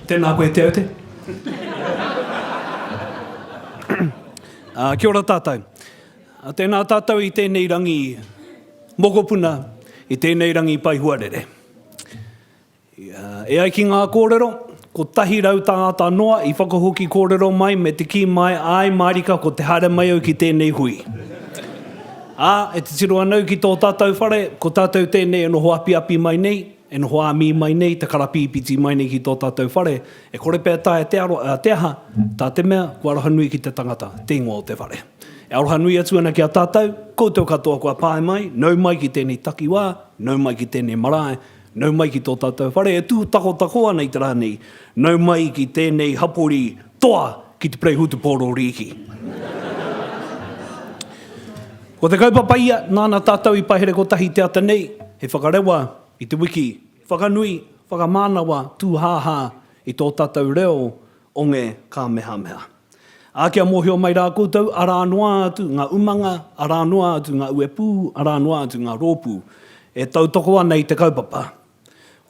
Tēnā koe Te Aute. Kia ora tātou. Tēnā tātou i tēnei rangi mokopuna, i tēnei rangi pai huarere. E ai ki ngā kōrero, kotahi rau tāngata noa i whakahoki kōrero mai me te kī mai, āe mārika ko te haere mai au ki tēnei hui. Ā, e titiro ana au ki tō tātou whare, ko tātou tēnei e noho apiapi mai nei, e noho āmī mai nei, te karapīpiti mai nei ki tō tātou whare, e kore pea taea te aro, ā, te aha, tā te mea, kua arohanui ki te tangata, te ingoa o te whare. E arohanui atu ana ki a tātou, koutou katoa kua pae mai, nau mai ki tēnei takiwā, nau mai ki tēnei marae, Nau mai ki tō tātou whare e tūtakotako ana i te rā nei, nau mai ki tēnei hapori toa ki te Pereihūtupōro Rīki. Ko te kaupapa ia, nāna tātou i pahere kotahi te ata nei, he whakarewa i te wiki, whakanui, whakamānawa, tūhāhā i tō tātou reo o ngē kāmehameha. Ā, kia mōhio mai rā koutou, arā noa atu ngā umanga, arā noa atu ngā uepū, arā noa atu ngā rōpū, e tautoko ana i te kaupapa.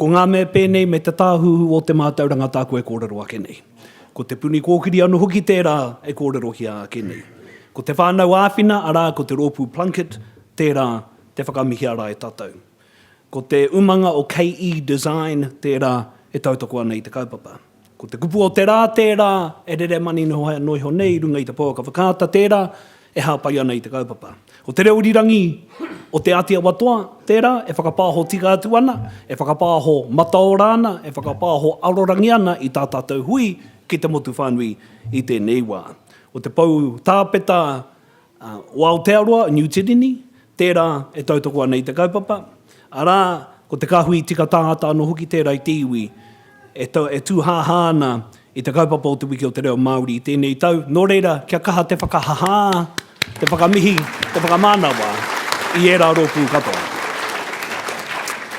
Ko ngā mea pēnei me te Tāhuhu o te Mātauranga tāku e kōrero ake nei. Ko Te Puni Kōkiri anō hoki tērā e kōrerohia ake nei. Ko te whānau āwhina, arā, ko te Rōpū Plunket, tērā, te whakamihia ara e tātou. Ko te umanga o KE Design tērā e tautoko ana i te kaupapa. Ko te kupu o te rā tērā e rere maninoha noa iho nei i runga i te pouaka whakaata tērā e hāpai ana i te kaupapa. Ko te reo irirangi o Te Āti Awa Toa tērā e whakapāho tika atu ana, e whakapāho mataora ana, e whakapāho arorangi ana i tā tātou hui ki te motu whānui i tēnei wā. Ko te pou tāpeta o Aotearoa, Niu Tirini, tērā e tautoko ana i te kaupapa, arā, ko te kāhui tika tāngata anō hoki tērā i te iwi e tūhāhā ana i te kaupapa o Te Wiki o te Reo Māori i tēnei tau, nō reira, kia kaha te whakahahā, te whakamihi, te whakamanawa i ērā rōpū katoa.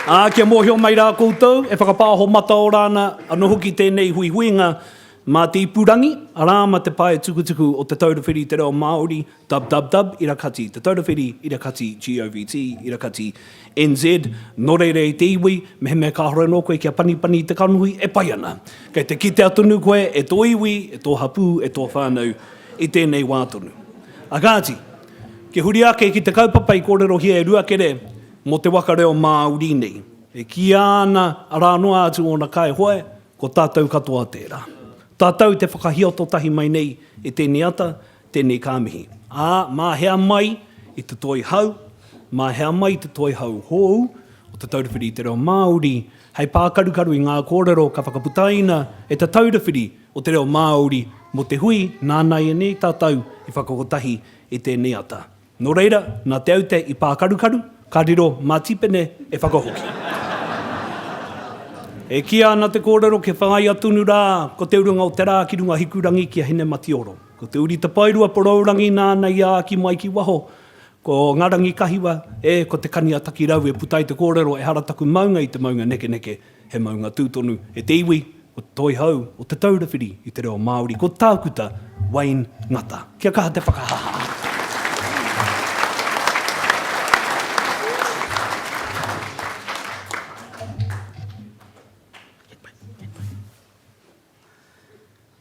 Ā, kia mōhio mai rā koutou, e whakapāho mataora ana anō hoki tēnei huihuinga Mā te ipurangi, arā, mā te pae tukutuku o Te Taura Whiri i te Reo Māori, dubdubdub, ira kati Te Taura Whiri, ira kati govt, ira kati NZ, nō reira i te iwi, mehemea kāore anō koe kia panipani i te kanohi, e pai ana. Kei te kitea tonu koe e tō iwi, e tō hapū, e tō whānau i tēnei wā tonu. A kāti, kia huri ake ki te kaupapa i kōrerohia e Ruakere mō te waka reo Māori nei, e kīia ana arā noa atu ōna kaihoe, Ko tātou katoa tērā. Tātou te whakahioto tahi mai nei e tēnei ata, tēnei ka mihi. Ā, mā hea mai i te toi hau, mā hea mai i te toi hau hou o Te Taura Whiri i te Reo Māori, hei pākarukaru i ngā kōrero ka whakaputaina e Te Taura Whiri o te Reo Māori mō te hui nāna ianei tātou i whakakotahi i tēnei ata. Nō reira, nā Te Aute i pākarukaru, ka riro mā Tīpene e whakahoki. E kīa ana te kōrero kia whāia tonu rā ko te urunga o te rā ki runga Hikurangi ki a Hinematioro. Ko te uri tapairua porourangi nāna i āki mai ki waho, ko ngā rangi kahiwa, ē, ko te kani a Takirau e puta ai te kōrero ehara taku maunga i te maunga nekeneke, He maunga tū tonu e te iwi o Te Toihau o Te Taura Whiri i te Reo Māori ko Tākuta Wayne Ngata. Kia kaha te whakahaha!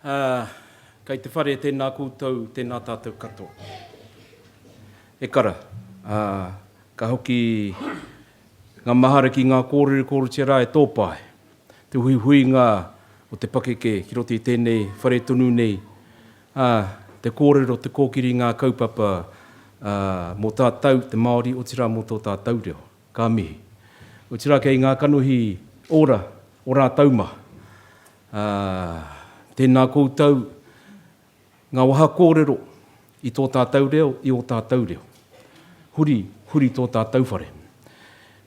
Ā, kei te whare tēnā koutou, tēnā tātou katoa. He kara, ā, ka hoki ngā mahara ki ngā kōrere kōretia rā e tōpā ai. Te huihuinga o te pakeke ki roto i tēnei whare tonu nei, ā, te kōrero, te kōkiri i ngā kaupapa, ā, mō tātou, te Māori, otirā mō tō tātou reo. Ka mihi. Otirā kei ngā kanohi ora o rātou mā. Ā, tēnā koutou, ngā waha kōrero i tō tātou reo, i ō tātou reo. Huri, huri tō tātou whare.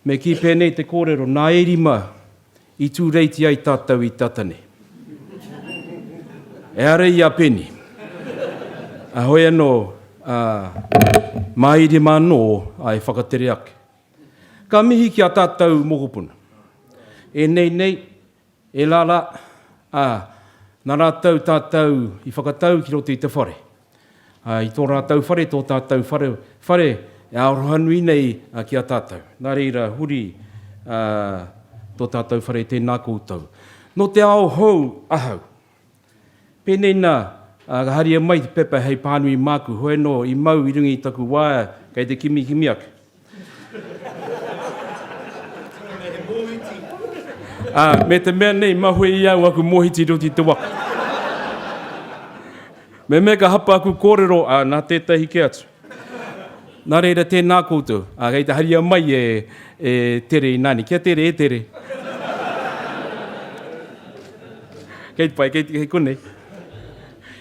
Me kī pēnei te kōrero, nā e rima I tūreiti ai tātou i tata nei. Ehara i a Penny. Heoi anō, ā, mā Irima anō a e whakatere ake. Ka mihi ki a tātou mokopuna. E nei nei, e la la, ā, nā rātou tātou i whakatau ki roto i te whare. I tō rātou whare, tō tātou whare, whare e arohanui nei ki a tātou. Nā reira, huri tō tātou whare, tēnā koutou. Nō te ao hou ahau. Pēnei nā, ka haria mai te pepa hei pānui māku, hoi anō, i mau i runga i taku waea, kei te kimikimi ake. Ā, me te mea nei, mahue i au aku mōhiti roti i te waka. Me mea ka hapa aku kōrero, ā, nā tētahi kē atu. Nā reira, tēnā koutou. Ā, kei te haria mai e, e Tere Inaani. Kia tere e Tere. Kei te pai, kei, kei konei.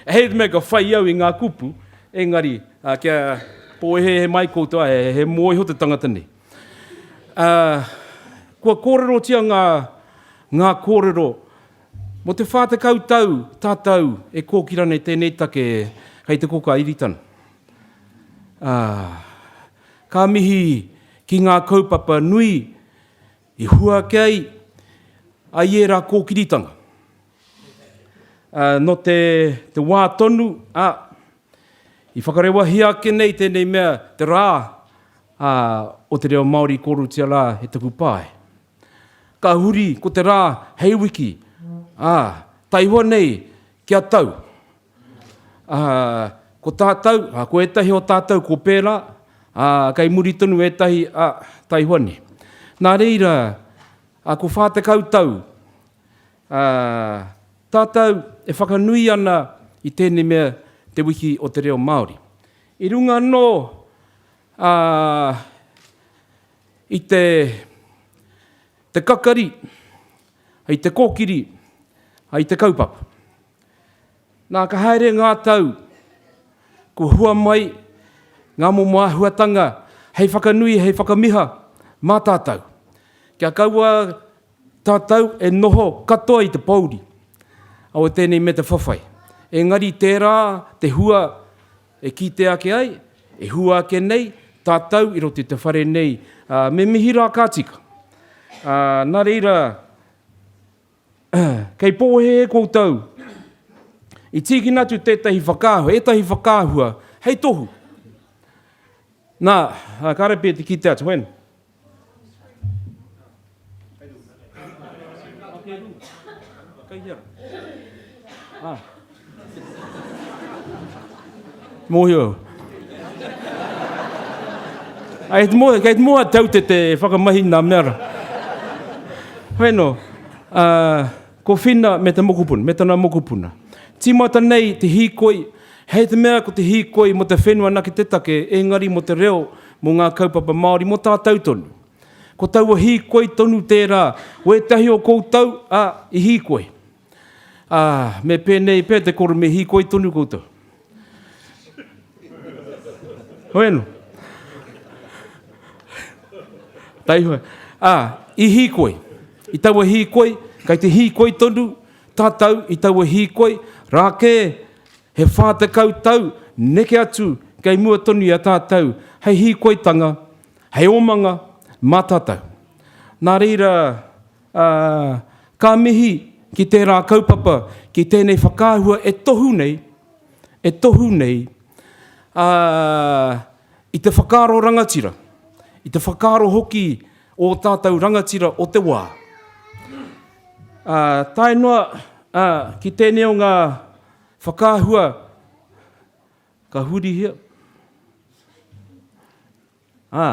Hei te mea ka whai au i ngā kupu, engari, Ā, kia pōhehe mai koutou, ā, he momo iho te tangata nei. Ā, kua kōrerotia ngā, ngā kōrero, Mō te whā tekau tau tātou e kōkira nei tēnei take kei te koka Iritana. Ā, ka mihi ki ngā kaupapa nui i hua ake ai, ai ērā kōkiritanga. Ā, nō te, te wā tonu, ā, I whakarewahia ake nei tēnei mea te rā ā, o te reo Māori i kōrutia rā e taku pae. Ka huri ko te rā hei wiki, ā, taihoa nei kia tau. Ā, ko tātou, ā, ko ētahi o tātou ko pērā, ā, kei muri tonu ētahi, ā, taihoa nei. Nā reira, ā, ko whā tekau tau, Ā, tātou e whakanui ana i tēnei mea te Wiki o te Reo Māori. I runga anō ā, i te, te kakari, i te kōkiri, i te kaupapa. Nā, ka haere ngā tau, kua hua mai ngā momo āhuatanga hei whakanui, hei whakamiha mā tātou. Kia kaua Tātou e noho katoa i te pōuri, awe tēnei me te whawhai. Engari tērā te hua e kite ake ai, e hua ake nei tātou i roto i te whare nei, ā, me mihi rā ka tika. Ā, nā reira, kei pōhēhē koutou i tīkina atu tētahi whakaahua, ētahi whakaahua hei tohu. Nā, kāre pea te kite atu, whēnā. Mōhio. Ai, te mōhio, kei te mōhio tau te te whakamahi nā mea ra. Wheno, uh, Ko Whina me te mokopuna, me tana mokopuna. Tīmata nei te hīkoi, hei te mea ko te hīkoi mō te whenua anake te take, engari mō te reo, mō ngā kaupapa Māori, mō tātou tonu. Ko taua hīkoi tonu tērā, ko ētahi o koutou, ā, i hīkoi. Ā, me pēnei pea te koro me hīkoi tonu koutou. Bueno. Taihoa. Ā, i hīkoi. I taua hīkoi, kei te hīkoi tonu tātou i taua hīkoi, rā kē he whā tekau tau neke atu kei mua tonu i a tātou hei hīkoitanga, hei omanga mā tātou. Nā reira, Ā, ka mihi ki tērā kaupapa, ki tēnei whakaahua e tohu nei, e tohu nei, ā, i te whakaaro rangatira, i te whakaaro hoki o ō tātou rangatira o te wā. Ā, tae noa, ā, ki tēnei o ngā whakaahua ka hurihia, Ā,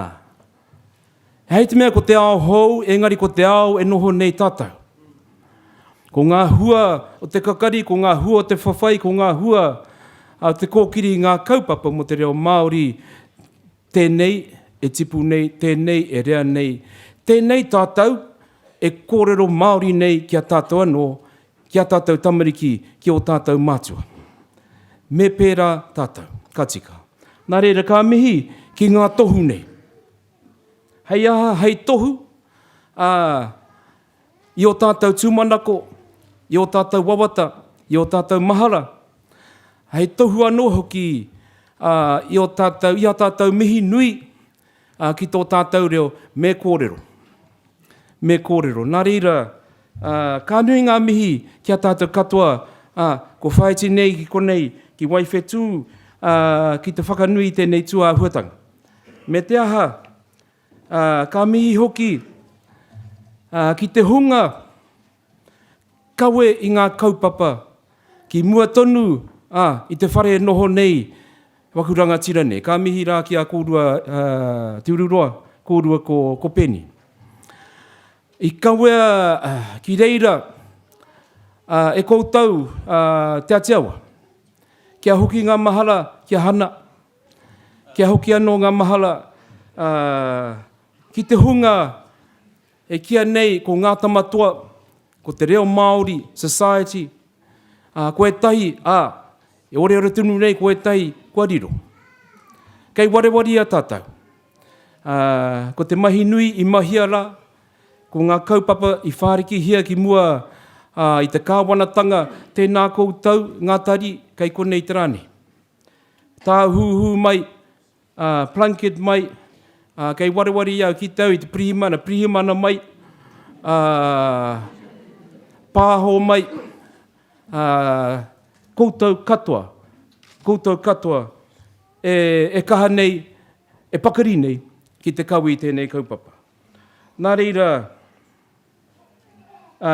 hei te mea ko te ao hou, engari ko te ao e noho nei tātou. Ko ngā hua o te kakari, ko ngā hua o te whawhai, ko ngā hua o te kōkiri i ngā kaupapa mō te reo Māori, tēnei e tipu nei, tēnei e rea nei, tēnei tātou e kōrero Māori nei ki a tātou anō, Ki a tātou tamariki, ki ō tātou mātua. Me pērā tātou. Ka tika. Nā reira, ka mihi ki ngā tohu nei. Hei aha? Hei tohu, ā, i ō tātou tūmanako, i ō tātou wawata, i ō tātou mahara, hei tohu anō hoki, ā, i ō tātou, i ā tātou mihi nui, Ā, ki tō tātou reo, me kōrero. Me kōrero. Nā reira, ā, ka nui ngā mihi ki a tātou katoa, ā, ko Whaiti nei ki konei, ki Waiwhetū, ā, ki te whakanui i tēnei tūāhuatanga. Me te aha, ā, ka mihi hoki, ā, ki te hunga, kawe i ngā kaupapa ki mua tonu a i te whare e noho nei waku rangatira nei. Ka mihi rā ki a kōrua Te Ururoa, kōrua ko, ko Penny. I kawea ki reira e koutou Te Atiawa, kia hoki ngā mahara ki a Hana, kia hoki anō ngā mahara ki te hunga E kīa nei ko Ngā Tamatoa, ko Te Reo Māori Society, ā, ko ētahi, ā, e oreore tonu nei ko ētahi kua riro. Kei warewaria tātou. Ā, ko te mahi nui i mahia rā, ko ngā kaupapa i whārikihia ki mua, ā, i te kāwanatanga, tēnā koutou, ngā tari kei konei te rā nei. Tāhuhu mai, Ā, Plunket mai, ā, kei wareware i au ki te au i te pirihimana, pirihimana mai, ā, Pāho mai, ā, koutou katoa, koutou katoa e, e kaha nei, e pakari nei ki te kawe i tēnei kaupapa. Nā reira, ā,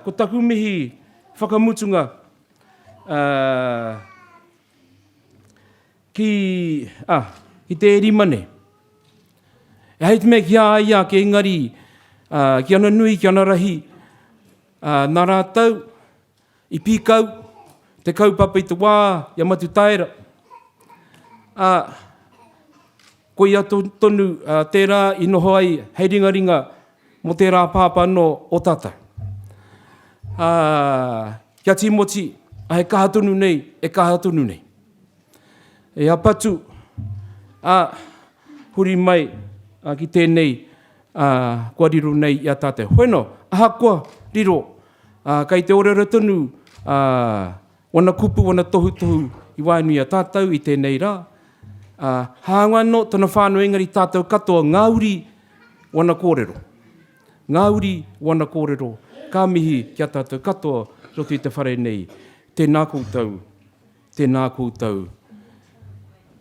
ko taku mihi whakamutunga, ā, Ki, ah, ki te Erimane. E hei te mea ki a ia ake, engari, ah, ki ana nui, ki ana rahi, ah, na ratou, i pikau, te kaupapa i te wa, i a Matutaera. Ah, Koia tonu tērā i noho ai hei ringaringa mō tērā pāpā anō o tātou. Ā, kia Tīmoti, he kaha tonu nei, e kaha tonu nei. E a Patu, ā, huri mai ki tēnei kua riro nei i a tātou. Hoena, ahakoa riro, kei te oreore tonu Wana kupu, wana tohutohu i wae nui i a tatou i tenei ra, a haanga no tana whanau engari tatou katoa nga uri wana korero. Nga uri wana korero, ka mihi ki a tatou katoa i roto i te whare nei. Tena koutou, tena koutou.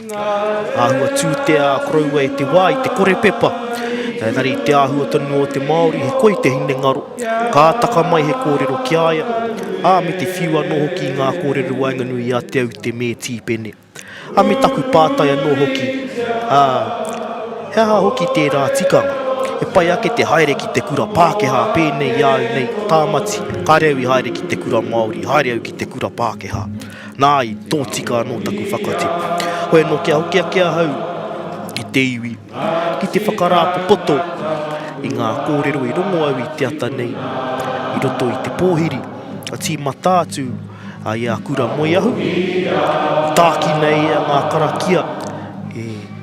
Āhua tū te ā koroua e te wā i te kore pepa. Engari i te āhua tonu o te Māori he koi te hinengaro, ka taka mai he kōrero ki a ia, ā, me te whiu anō hoki i ngā kōrero waenganui i a Te Aute me Tīpene. Ā, me taku pātai anō hoki, ā, he aha hoki tērā tikanga? He pai ake te haere ki te kura Pākehā pēnei i a au nei, Tāmati, kāre au i haere ki te kura Māori, haere au ki te kura Pākehā. Nāi, tōtika anō taku whakatipu. Hoi anō kia hoki ake ahau ki te iwi, ki te whakarāpopoto i ngā kōrero i rongo au i te ata nei, i roto i te pōhiri, a tīmata atu i a Kura Moeahu, tākina e ia ngā karakia e.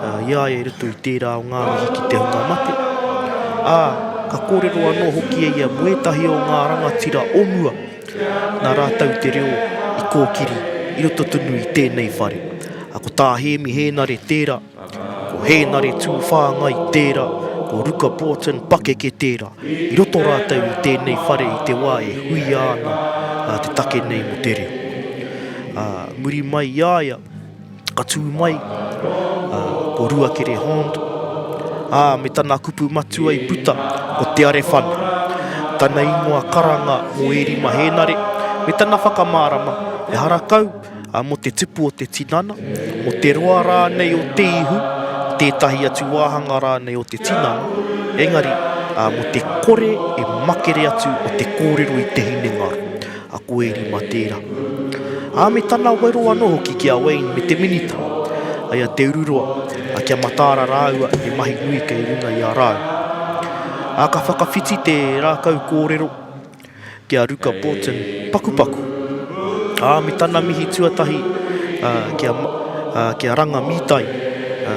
I a ia i roto i tērā o ngā mihi ki te hunga mate, ā, ka kōrero anō hoki e ia mō ētahi o ngā rangatira o mua, nā rātou te reo i kōkiri i roto tonu i tēnei whare. Ko tā Hēmi Hēnare tērā, ko Hēnare Tūwhāngai tērā, ko Ruka Broughton pakeke tērā, i roto rātou i tēnei whare i te wā e huia ana te take nei mō te reo. Ā, muri mai i a ia, Ka tū mai uh, ko Ruakere Hond. Ah, me tana kupu matua i puta, ko Te Arewhana. Tana ingoa karanga mo Eri Mahenare, me tana whakamārama, e harakau uh, mo te tupu o te tinana, mo te roa rānei o te ihu, tētahi atu wāhanga rānei o te tinana, engari uh, mo te kore e makere atu o te kōrero i te hinengaro. a Koeri mā tērā. Ā, me tana wero anō hoki ki a Wayne me te Minita, ai a Te Ururoa, a Kia Mataara rāua he mahi nui kei runga i a rāua. Ā, ka whakawhiti te rākau kōrero ki a Ruka Broughton, pakupaku. Ā, me tana mihi tuatahi ki a, ā, ki a Ranga Mītai, ā,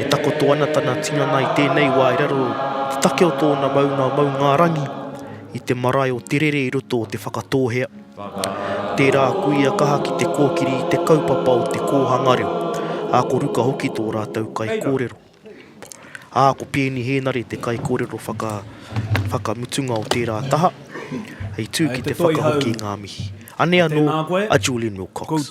e takoto ana tana tinana i tēnei wā i raro te take o tōna maunga, Maungārangi, i te marae o Te Rere i roto o Te Whakatōhea. Tērā kuia kaha ki te kōkiri i te kaupapa o te kōhanga reo, ā, ko Ruka hoki tō rātou kaikōrero. Ā, ko Peeni Hēnare te kaikōrero whaka, whakamutunga o tērā taha, hei tū ki te whakahoki ngā mihi. Anei anō a Julian Wilcox.